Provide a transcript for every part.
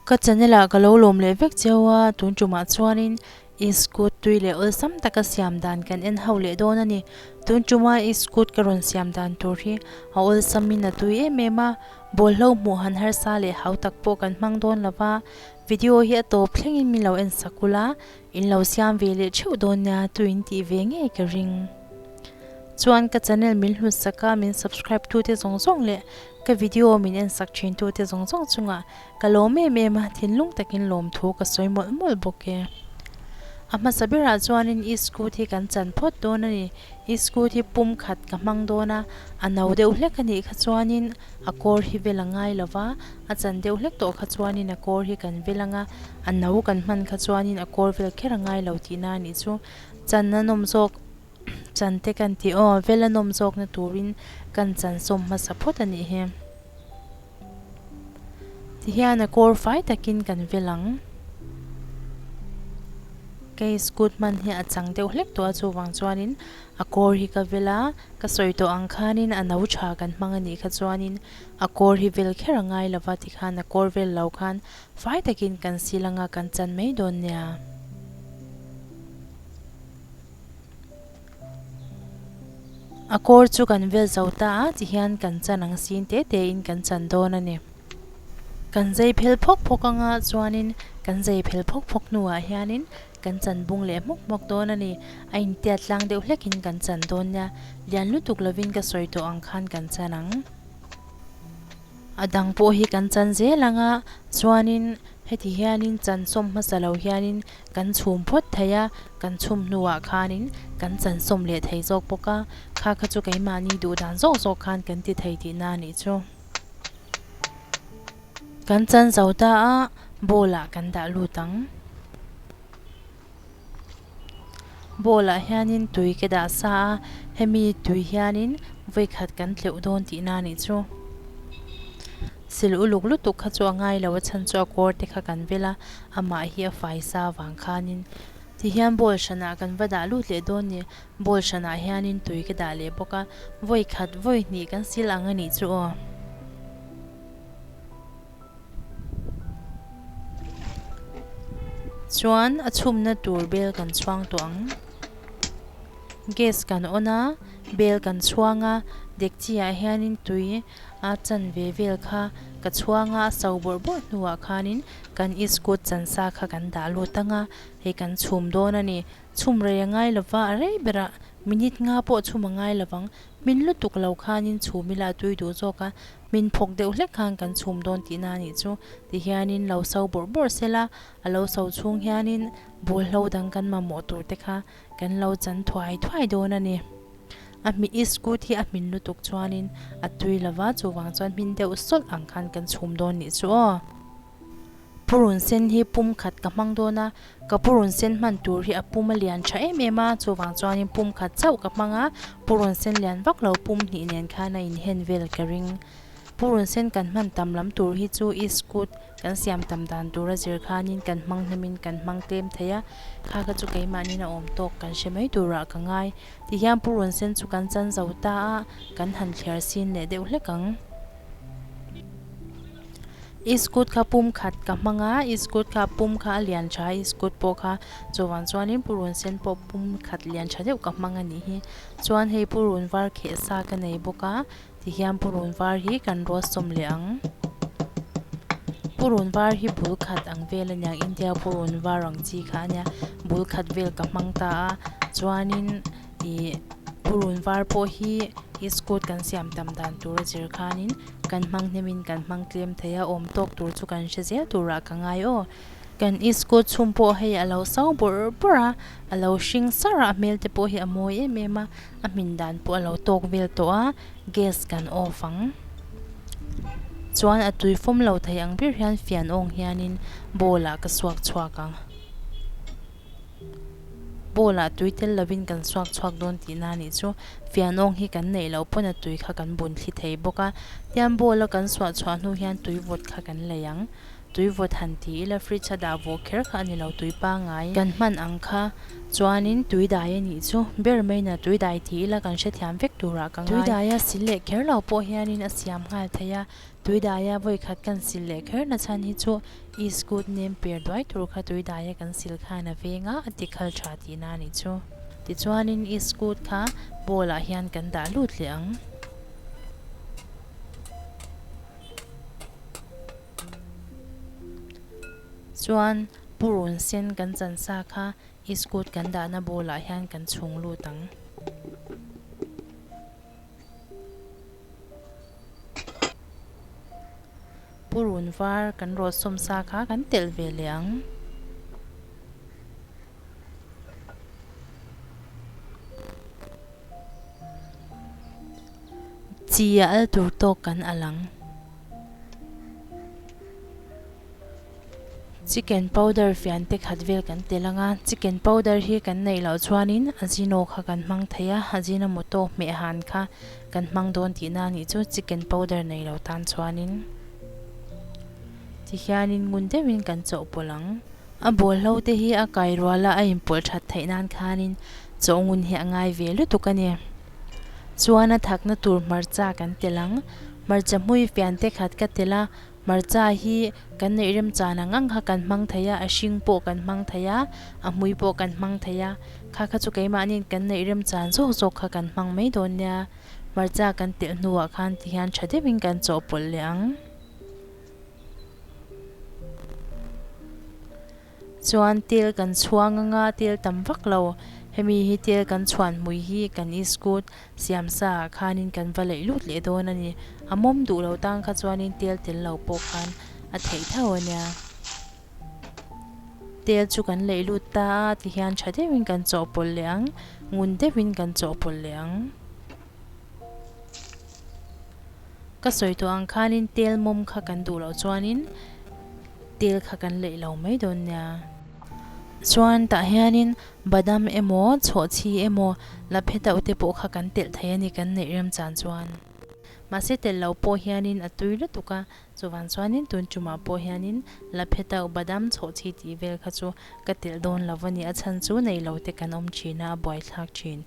Ka channel ah ka lo lawm leh vek cio a, tun ṭum ah chuanin i scoot tui leh awlsam taka siam dan kan en ho leh dawn a ni. Tun ṭum a i scoot ka rawn siam dan tur hi a awlsamin a tui em em a, bawlhlo hmuh han harsa leh hautak pawh kan hmang dawn lo va. Video hi a tawp thlengin min lo en sak kul a, in lo siam ve leh theuh dawn nia tu in tih ve ngei ka ring. Chuan ka channel min hlut sak a, min subscribe tu te zawng zawng leh ka video min en sak thin tu te zawng zawng chunga ka lawm em em a, thinlung takin lawm thu ka sawi mawlh mawlh bawk e. A hmasa berah chuanin i scoot hi kan chan phawt dawn a ni, i scoot hi pum khat ka hmang dawn a, a no deuh hlek a nih kha chuanin A kawr hi vel a ngai lo va, a chan deuh hlek tawh kha chuanin a kawr hi kan vel ang a, a no kan hman kha chuanin a kawr vel kher a ngai lo tihna a nih chu. Chan a nawm zawk chan te kan ti aw, vel a nawm zawkna turin kan chansawm hmasa phawt a nih hi. Tihian a kawr fai takin kan vel ang. Kei scoot hman hi a chang deuh hlek tawh a chuvang chuanin. A kawr hi ka vel a, ka sawi tawh ang khanin a no tha kan hmang a nih kha chuanin a kawr hi vel kher a ngai lo va tikhan a kawr vel lo khan fai takin kan sil anga kan chan mai dawn nia. A kawr chu kan vel zo ta a tihian kan chan ang sin te tein kan chan dawn a ni. Kan zai phel phawk phawk anga chuanin kan zai phel phawk phawk hnuah hianin. Kan chan bung leh hmawk hmawk dawn a ni. A intiat tlang deuh hlekin kan chan dawn nia. Lian lutuk lovin ka sawi tawh ang khan kan chan ang. A dang pawh hi kan chan zel anga chuanin heti hianin chan sawm hmasa lo hianin kan chhum phawt thei a. Kan chhum hnuah khanin kan chan sawm leh thei zawk bawk a. Kha kha chu keimahni duh dan zawk zawk khan kan ti thei tihna a nih chu. Kan chan zo ta a, bowl ah kan dah lut ang. Bowl ah hianin tui ka dah sa a, hemi tui hianin vawikhat kan tleuh dawn tih na nih chu. Sil uluk lutuk kha chu a ngai lo a chhan chu a kawr te kha kan bel a, amah hi a fai sa vang khanin. Tihian bowl hran ah kan va dah lut leh dawn nih, bowl hran ah hianin tui ka dah leh bawk a, vawikhat vawihnih kan sil ang a nih chu aw. Chuan a chhumna tur bel kan chhuang tawh ang. Gas kan on a, bel kan chhuang a, dekchi ah hianin tui a chan ve vel kha ka chhuang a, a so bawrh bawrh hnuah khanin kan iskut chansa kha kan dah lut ang a, hei kan chhum dawn a ni. Chhum rei a ngai lo va, a rei ber a, minute nga pawh chhum a ngai lo vang. Hmin lutuk lo khanin chhum ila a tui duh zawk a, Min phawk deuh hlek khan kan chhum dawn tih na a nih chu, ti hianin lo sau bawrh bawrh sel a, a lo sau chhung hianin bawlhlo dang kan mamawh tur te kha kan lo chan thuai thuai dawn a ni. A hmi i scoot hi a hmin lutuk chuanin a tui lova chuvang chuan hmin deuh sawlh ang khan kan chhum dawn nih chu aw. Purun sen hi pum khat ka hmang dawn a, ka purun sen hman tur hi a pum a lian tha em em a, chuvang chuanin pum khat chauh ka hmang a, purun sen lian vak lo pum hnih nen khan a inhen vel ka ring. Purun sen kan hman tam lam tur hi chu i scoot kan siam tam dan tura zir khanin kan hmang hnamin kan hmang tlem thei a, kha kha chu keimahnin a awm tawk kan hre mai turah ka ngai. Tihian purun sen chu kan chanzo ta a, kan han thliar sin leh deuh hlek ang. I scoot kha pum khat ka hmang a, i scoot kha pum kha a lian tha a, i scoot pawh kha chuvang chuanin purun sen pawh pum khat lian tha deuh ka hmang a nih hi. Chuan hei purun var kheh sa ka nei bawk a, tihian purun var hi kan ruah sawm leh ang. Purun var hi bul khat ang vel a ni ang, India purun var ang chi kha a nia, bul khat vel ka hmang ta a, chuanin Ti purun var pawh hi i scoot kan siam tam dan tura zir khanin kan hmang hnemin kan hmang tlem thei a, awm tawk tur chu kan hre zel turah ka ngai aw. Kan i scoot chhum pawh hei a lo sau bawrh bawrh a, a lo hring sar a, hmel te pawh hi a mawi em em a, a hmin dan pawh a lo tawk vel tawh a, gas kan off ang chuan a tui fawm lo thei ang ber hian fian awng hianin bowl ah ka suak chhuak ang. Paula tui tel lovin kan suak chhuak dawn tih na nih chu fianawng hi kan neih loh pawn a tui kha kan bun thli thei bawk a, tian bowl a kan suah chhuah hnu hian tui vawt kha kan lei ang. Tui vawt han ti ila fridge a dah vawh kher kha a ni lo tui pangai kan hman ang kha chuanin tui dai a nih chu ber mai na tui dai ti ila kan hrethiam vek turah ka ngai. Tui daia sil leh kher lo pawh hianin a siam nghal thei a. Tuidaia vawi khat kan sil leh kher nachhan hi chu i scoot nem per duai tur kha Tuidaia kan sil khan a veng a, a ti khal tha ti na nih chu. Tichuanin i scoot kha ball ah hian kan dah lut leh ang. Chuan purun sen kan chan sa kha i scoot kan dahna ball ah hian kan chhung lut ang. Purun var kan rawt sawm sa kha kan telh ve leh ang. Chi a al tur tawk kan al ang. Chicken powder fian te khat vel kan tel anga, chicken powder hi kan neih loh chuanin Ajino kha kan hmang thei a, Ajinomoto hmeh han kha kan hmang dawn tihna a nih chu, chicken powder nei lo tan chuanin tihianin ngun deuhin kan chawh pawlh ang. A bawlhlo te hi a kai rual a, a inpawlh that theih nan khanin chawh ngun hi a ngai ve lutuk a ni. Chuan a thakna tur hmarcha kan tel ang, hmarcha hmui fian te khat ka tel a, Hmarcha hi kan neih remchan ang ang kha kan hmang thei a, a hring pawh kan hmang thei a, a hmui pawh kan hmang thei a, kha kha chu keimahniin kan neih remchan zawk zawk kha kan hmang mai dawn nia, hmarcha kan telh hnuah khan ti hian tha deuhin kan chawhpawlh leh ang. Chuan til kan chhuang a nga, til tam vak lo. Hemi hi til kan chhuan hmui hi kan i scoot siam sa ah khanin kan va laih lut leh dawn a ni. A mawm duh lo tan kha chuanin tel tel lo pawh khan a theih thauh a nia. Tel chu kan laih lut ta a ti hian tha deuhin kan chawhpawlh leh ang, ngun deuhin kan chawhpawlh leh ang. Ka sawi tawh ang khanin tel mawm kha kan duh loh chuanin tel kha kan laih lo mai dawn nia. Chuan tah hianin badam emaw, chhawhchhi emaw, la phe dauh te pawh kha kan telh thei a ni kan neih rem chan chuan. Mahse telh loh pawh hianin a tui lutuk a, chuvang chuanin tun tumah pawh hianin la phe dauh, badam, chhawhchhi tih vel kha chu ka telh dawn lo a ni. A chhan chu nei lo te kan awm thin a, a buaithlak thin.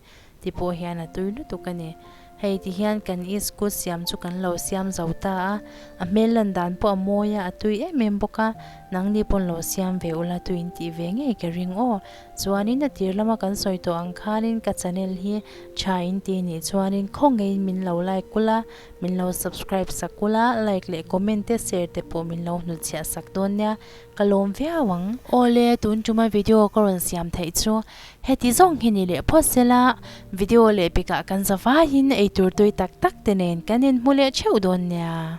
ti pawh hian a tui lutuk a ni. Hei ti hian kan East Coast siam chu kan lo siam zo ta a, a hmel lan dan pawh a mawi a, a tui em em bawk a, nangni pawn lo siam ve ula tuiin tih ve ngei ka ring aw. Chuanin a tir lama kan sawi tawh ang khanin ka channel hi tha in ti nih chuanin khawngeiin min lo like kul a, min lo subscribe sak kul a, like leh comment te share te pawh min lo hnutchhiah sak dawn nia, ka lawm viau ang. Awle tun tuma video ka rawn siam theih chu Heti zawng hi ni leh phawt sela, video leh pekah kan zavaiin eitur tui tak tak te nen kan inhmu leh theuh dawn nia.